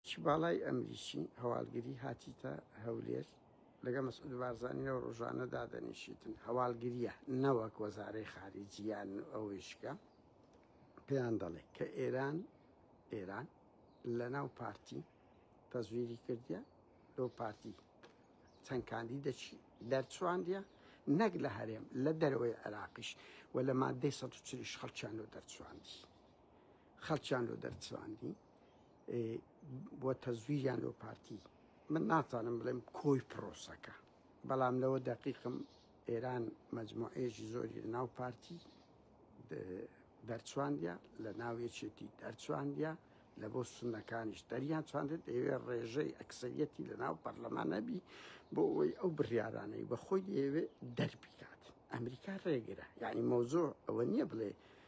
چ باڵای ئەمریکی هەواڵگری هاتیتە هەولێر لەگەڵ مەسعود بارزانی لەو ڕۆژانە دادەنیشیتن هەواڵگریە نەوەک وەزارەی خارجیان ئەویشکە پێیان دەڵێ کە ئێران ئێران لە ناو پارتی تەزویری کردە لۆ پارتی چەند کاندی دەچی دەرچواندە نەک لە هەرێم لە دەرەوەی عێراقیش و لە مادەی 140 خەڵکیان لۆ دەرچواندی خەڵکیان لۆ دەرچواندی بۆ تەزویریان لەو پارتی من ناتوانم بڵێم کۆی پرۆسەکە بەڵام لەوە دەقیقم ئێران مەجموعێژی زۆری لە ناو پارتی دەرچواندە لە ناوێچێتی دەرچواندە لە بۆ سنەکانیش دەریان چاندێت ئێوێ ڕێژەی ئەکسەریەتی لە ناو پەرلەمان نەبی بۆ ئەوەی ئەو بڕیارانەی بە خۆی دەیەوێت دەربیکات ئەمریکا ڕێگرە یعنی مەوزۆ ئەوە نییە بڵێ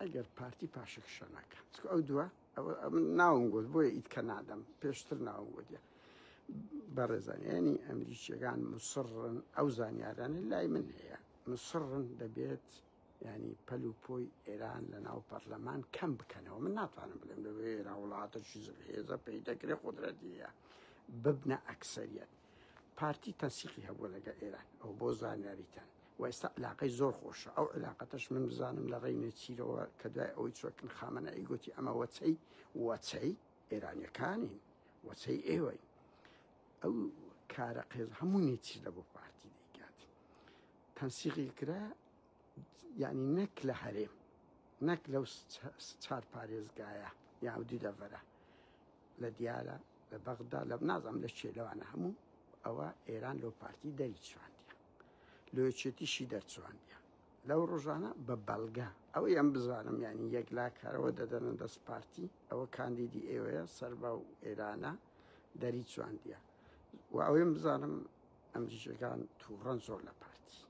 ئەگەر پارتی پاشەکە شەناکە چکە ئەو دووە ناوم گوت بۆیە ئیت کە نادەم پێشتر ناوم گوتە بەڕێزانیانی ئەمریکیەکان مسڕن ئەو زانیارانە لای من هەیە مسڕن دەبێت ینی پەل و پۆی ئێران لە ناو پەرلەمان کەم بکەنەوە من ناتوانم بڵێم لە ئێرا وڵاتەشی زهێزە پێی دەکرێ قدرەتیە ببنە ئەکسەریەت پارتی تەسیقی هەبوو لەگە ئێران ئەو بۆ زانیاریتان و ئێستا علاقەی زۆر خۆشە ئەو علاقەتەش من بزانم لە ڕێی نێچیرەوە کە دوای ئەوەی چۆکن خامەنە ئەی گوتی ئەمە وەچەی وەچەی ئێرانیەکانین وەچەی ئێوەی ئەو کارە قێز هەموو نێچیر لە بۆ پارتی دەیکات تەنسیقی کرا ینی نەک لە هەرێم نەک لەو چار پارێزگایە یا و دیدەڤەرە لە دیارە لە بەغدا لە نازم لە شێلەوانە هەموو ئەوە ئێران لەو پارتی دەری چواندە لە یەکێتیشی دەرچوانیان لەو ڕۆژانە بە بەڵگە ئەوەی ئەم بزانم یعنی یەکلاکەرەوە دەدەنە دەست پارتی ئەوە کاندیدی ئێوەیە سەربا و ئێرانە دەری چواندیە و ئەوەیم بزانم ئەم جیشەکان تووڕەن زۆر لە پارتی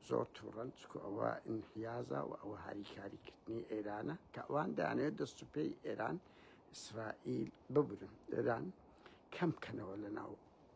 زۆر تووڕەن چکو ئەوە ئینحیازە و ئەوە هاریکاریکردنی ئێرانە کە ئەوان دانێت دەست و پێی ئێران ئیسرائیل ببرن ئێران کەم کەنەوە لە ناو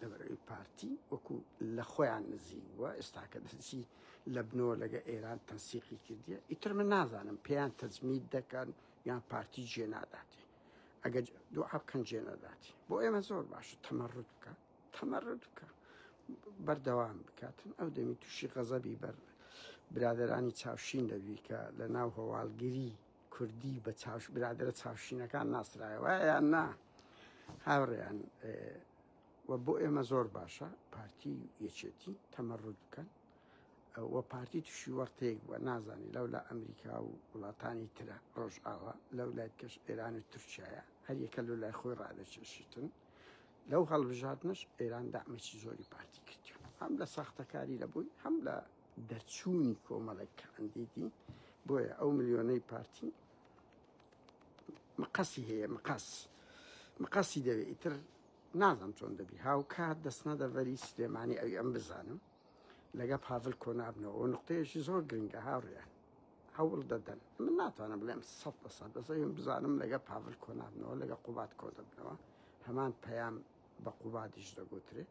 لەبەرئەوەی پارتی وەکو لە خۆیان نزیک بووە ئێستاکە دەسی لە بنەوە لەگە ئێران تەنسیقی کردیە ئیتر من نازانم پێیان تەزمید دەکەن یان پارتی جێ ناداتی ئەگەر دوعا بکەن جێ نەداتی بۆ ئێمە زۆر باشە تەمەڕوت بکە تەمەڕوت بکە بەردەوام بکاتن ئەو دەمی تووشی غەزەبی بەر برادرانی چاوشین دەبی کە لە ناو هەواڵگیری کوردی بە چاوش برادەرە چاوشینەکان ناسرایە وایە یان نا هاوڕێیان و بۆ ئێمە زۆر باشە پارتی یەکێتی تەمەڕوت بکەن و پارتی تووشی وەرتەیەک بووە نازانی لەو لە ئەمریکا و وڵاتانی ترە ڕۆژ ئاوا لەو لای کەش ئێران و تورکایە هەر یەکە لە لای خۆی ڕادەچێشتن لەو هەڵبژاتنش ئێران دامێکی زۆری پارتی کردیون هەم لە ساختەکاری لە بووی هەم لە دەرچوونی کۆمەڵێک کاندیدی بۆیە ئەو ملیۆنەی پارتی مقەسی هەیە مقاس مقاسی دەوێ ئیتر نازم چۆن دەبی هاوکات دەستنە دەڤەری سلێمانی ئەوی ئەم بزانم لەگە پاڤل کۆنابنەوە و نقطەیەشی زۆر گرنگە هاوڕیان هەوڵ دەدەن من ناتوانم بڵێم سە بە سە بەزەیم بزانم لەگە پاڤل کۆنابنەوە لەگە قوبات کۆ دەبنەوە هەمان پەیام بە قوبادیش دەگوترێت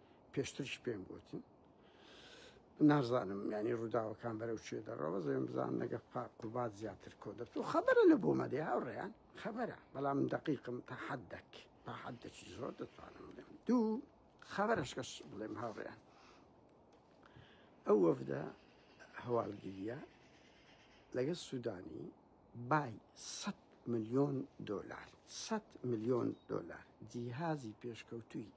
پێشترش پێم گوتی نازانم ینی ڕووداوەکان بەرەو چێ دەڕەوە زێم بزان نەگە قوبات زیاتر کۆ دەبت و خەبەرە لە بۆ مەدێ هاوڕێیان خەبەرە بەڵام دقیقم تا حەد دەک تا حەد دەچی زۆر دەتوانم بڵێم دوو خەبەرشکەش بڵێم هاوڕێیان ئەو وەفدە هەواڵگیریە لەگە سوودانی بای 100 میلیۆن دلار 100 میلیۆن دلار جیهازی پێشکەوتوی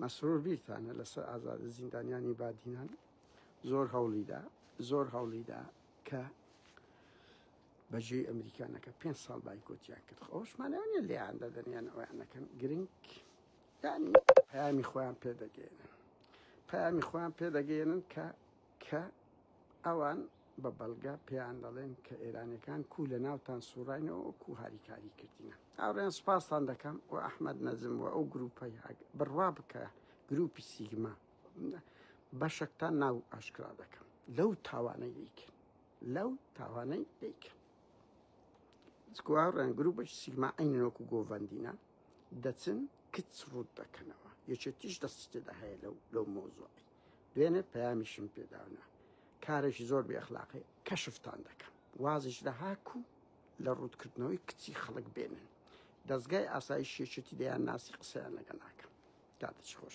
مەسرور بیرتانە لەسەر ئازاد زیندانیانی بادینان زۆر هەوڵیدا زۆر هەوڵیدا کە بەجێی ئەمریکانەکە پێ ساڵ بایکۆتیان کرد خۆشمانیان لێیان دەدەنیان ئەویان نەکەن گرنگ پەیامی خۆیان پێدەگەێنن پەیامی خۆیان پێدەگەێنن کە کە ئەوان بە بەڵگە پێیان دەڵێن کە ئێرانەکان کو لە ناوتان سوڕینەوە کو هاریکاری کردینە ئاڕێن سپاستان دەکەم و ئەحمد نەزم و ئەو گروپی بڕوا بکە گروپی سیگما بەشەکتان ناو ئاشکرا دەکەم لەو تاوانەی دیکن لەو تاوانەی دیکن سکوارڕێن گروپەش سیگما ئەینەوەکو گۆڤندینە دەچن کچ ڕوت دەکەنەوە یەکێتیش دەستێدا هەیە لەو لەو مۆزۆی بێنێت پەیامیشم پێداونە کارێکی زۆر بێ ئەخلاقی کەشفتان دەکەم وازیش لە هاک و لە ڕووتکردنەوەی کچی خەڵک بێنن دەزگای ئاسایش شێچێتی دەیان ناسی قسەیان لەگە ناکەم کاتە چ خۆش